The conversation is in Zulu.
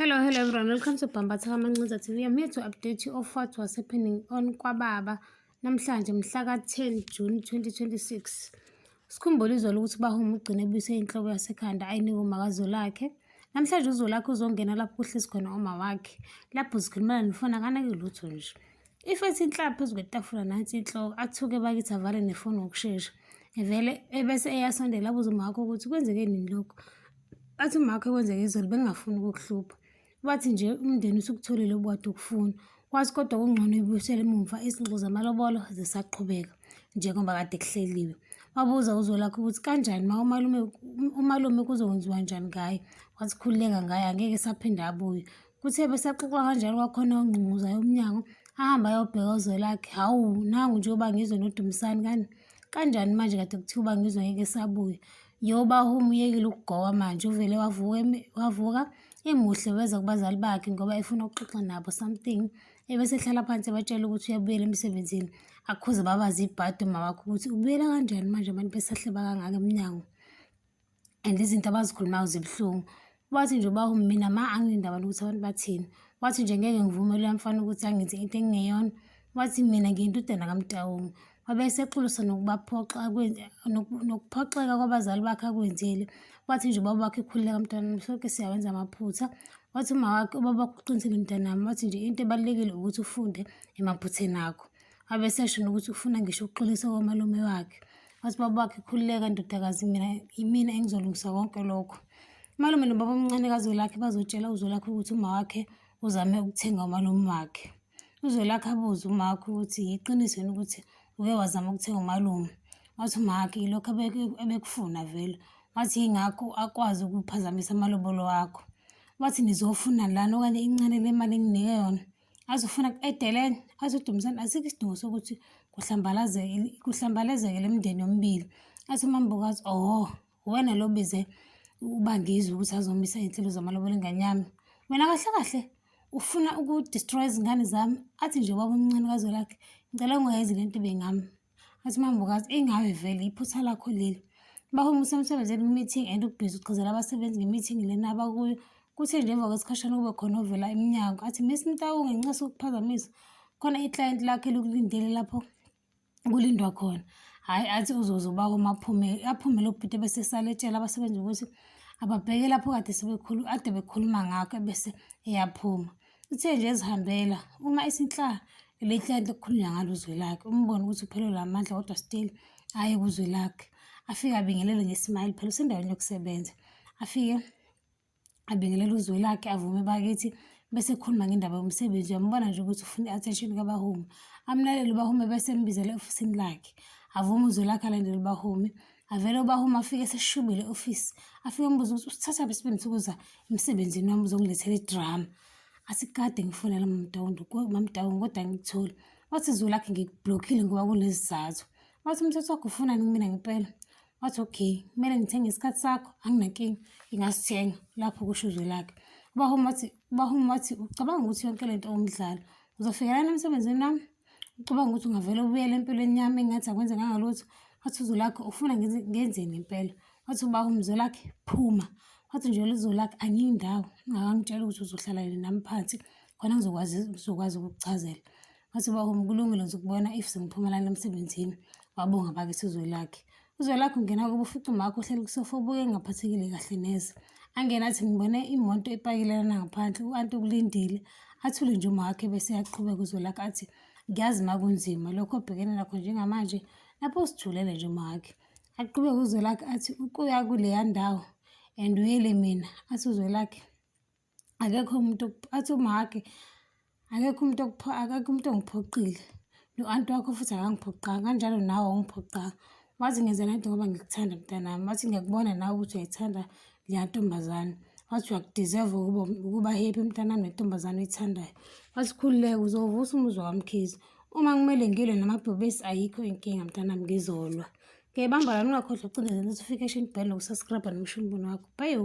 Hello, hello everyone. Welcome to Bhambatha Kamancinza TV. I'm here to update you of what was happening on KwaBaba namhlanje mhla ka-10 June 2026. Sikhumbule izolo ukuthi uBahuma ugcine ebuyise inhloko yasekhanda ayinike umakazolakhe. Namhlanje uzolakhe uzongena lapho kuhlezi khona uma wakhe. Lapho zikhulumela nefoni akanake lutho nje. If ethi inhlaba phezu kwetafula nathi inhloko athuke bakithi avale nefoni ngokushesha. Evele ebese eyasondela abuze uma wakho ukuthi kwenzeke nini lokho. Bathi umakho ekwenzeka izolo bengingafuni ukukuhlupha. Bathi nje umndeni usukutholile obukade ukufuna. Kwazi kodwa kungcono ibuyisele emumva izinxo zamalobolo zisaqhubeka njengoba kade kuhleliwe. Wabuza uzolakho ukuthi kanjani ma umalume umalume kuzokwenziwa njani ngaye. Wasikhululeka ngaye angeke saphinde abuye. Kuthe besaxoxa kanjalo kwakhona ongqunguzayo umnyango ahamba ayobheka uzwelakhe hawu nangu njengoba ngizwe nodumisani kani kanjani manje kade kuthiwa uba ngizwe ngeke sabuye yoba home uyekile ukugowa manje uvele wavuka wavuka emuhle weza kubazali bakhe ngoba efuna ukuxoxa nabo something ebesehlala phansi ebatshela ukuthi uyabuyela emsebenzini akhuze babazi ibhadi umawakho ukuthi ubuyela kanjani manje abantu besahleba kangaka emnyango and izinto abazikhulumayo zibuhlungu wathi nje uba mina ma anginendaba nokuthi abantu bathini wathi nje ngeke ngivumele uyamfana ukuthi angenze into engingeyona wathi mina ngiyintudana kamtawungu wabe esexolisa nokubaphoxa nokuphoxeka kwabazali bakhe akwenzile wathi nje ubaba wakhe ekhulile kamntanami sonke siyawenza amaphutha wathi uma wakhe ubaba wakhe uqinisile mntanami wathi nje into ebalulekile ukuthi ufunde emaphutheni akho abe sesho nokuthi ufuna ngisho ukuxolisa komalume wakhe wathi baba wakhe khululeka ndodakazi mina yimina engizolungisa konke lokho umalume nobaba omncane kazolakhe bazotshela uzolakhe ukuthi uma wakhe uzame ukuthenga umalume wakhe uzolakhe abuze uma wakhe ukuthi yiqiniso yini ukuthi uke wazama ukuthenga umalume wathi uma wakhe yilokho ebekufuna vele wathi yingakho akwazi ukuphazamisa amalobolo wakho wathi nizofuna lana okanye incane le mali enginike yona azofuna edeleni azodumisana asikho isidingo sokuthi kuhlambalazeke kuhlambalazeke le mndeni yomibili athi umambokazi oh wena lo bize ubangizwe ukuthi azomisa iy'nhlelo zamalobolo ingane yami wena kahle kahle ufuna uku-destroy izingane zami athi nje ubaba omncane kazwelakhe ngicela ungayezi le nto ibengami Athi mambukazi engawe vele iphutha lakho leli. Bahoma usemsebenzini kwi-meeting and ubhizi ugqizela abasebenzi nge-meeting lena abakuyo. Kuthe nje emva kwesikhashana kube khona ovela emnyango athi Miss Mtawu ngenxa sokuphazamisa khona i-client lakhe likulindele lapho kulindwa khona. Hhayi athi uzoze ubawo maphume aphume lo bhuti bese saletshela abasebenzi ukuthi ababheke lapho kade sebekhulu ade bekhuluma ngakho ebese eyaphuma. Uthe nje ezihambela uma isinhlaka leli client okukhulunywa ngalo uzwe lakhe umbone ukuthi uphelelwe amandla kodwa still aye kuzwe lakhe afike abingelele ngesmile phela usendaweni yokusebenza afike abingelele uzwe lakhe avume bakithi bese khuluma ngendaba yomsebenzi uyambona nje ukuthi ufuna i-attention kabahumi amlalele ubahumi bese embizela eofisini lakhe avume uzwe lakhe alandele ubahumi avele ubaha uma afike eseshubile office afike umbuza ukuthi usithatha phi sibemthi ukuza emsebenzini wami uzongilethela idrama asikade ngifonela mamdawundo mamdawundo kodwa ngikutholi wathi zulu lakhe ngikublokhile ngoba kunezizathu wathi umthetho wakho ufunani kumina ngempela wathi okay kumele ngithenge isikhathi sakho anginankinga ngingasithenga lapho kusho uzwe lakhe ubahuma wathi ubahuma wathi ucabanga ukuthi yonke le nto umdlalo uzofikelana emsebenzini wami Ucabanga ukuthi ungavele ubuyele empilweni yami engathi akwenzekanga lutho? Wathi uZolakhe ufuna ngenzeni impela? Wathi uba uMzolakhe phuma. Wathi nje uZolakhe angiyi ndawo ungakangitsheli ukuthi uzohlala nami phansi khona ngizokwazi ngizokwazi ukukuchazela. Wathi uba kulungile ngizokubona if sengiphuma lana emsebenzini. Wabonga bakithi uZolakhe. Uzwelakhe ungena kubo ufica umakho uhleli kusofa ubuke engaphathekile kahle neze. Angena athi ngibone imoto epakilelana ngaphandle u-anti ukulindile. Athule nje umakhe bese yaqhubeka uzwelakhe athi ngiyazi ma kunzima lokho obhekene nakho njengamanje lapho usijulele nje umakhe. Aqhubeke uzwelakhe athi ukuya kuleya ndawo and uyele mina athi uzwelakhe akekho umuntu athi umhage akekho umuntu akekho umuntu ongiphoqile no-anti wakho futhi akangiphoqanga kanjalo nawe awungiphoqanga wathi ngenza le nto ngoba ngikuthanda mntanami wathi ngiyakubona nawe ukuthi uyayithanda leya ntombazane wathi uyakudeserve ukuba ukuba happy mntanami nentombazane oyithandayo wathi khululeke uzovusa umuzwa wamkhizi uma kumele ngilwe namabhubesi ayikho inkinga mntanami ngizolwa ngiyayibamba lani ungakhohlwa ucindezela notification bell nokusubscribe nomshini mbono wakho bayo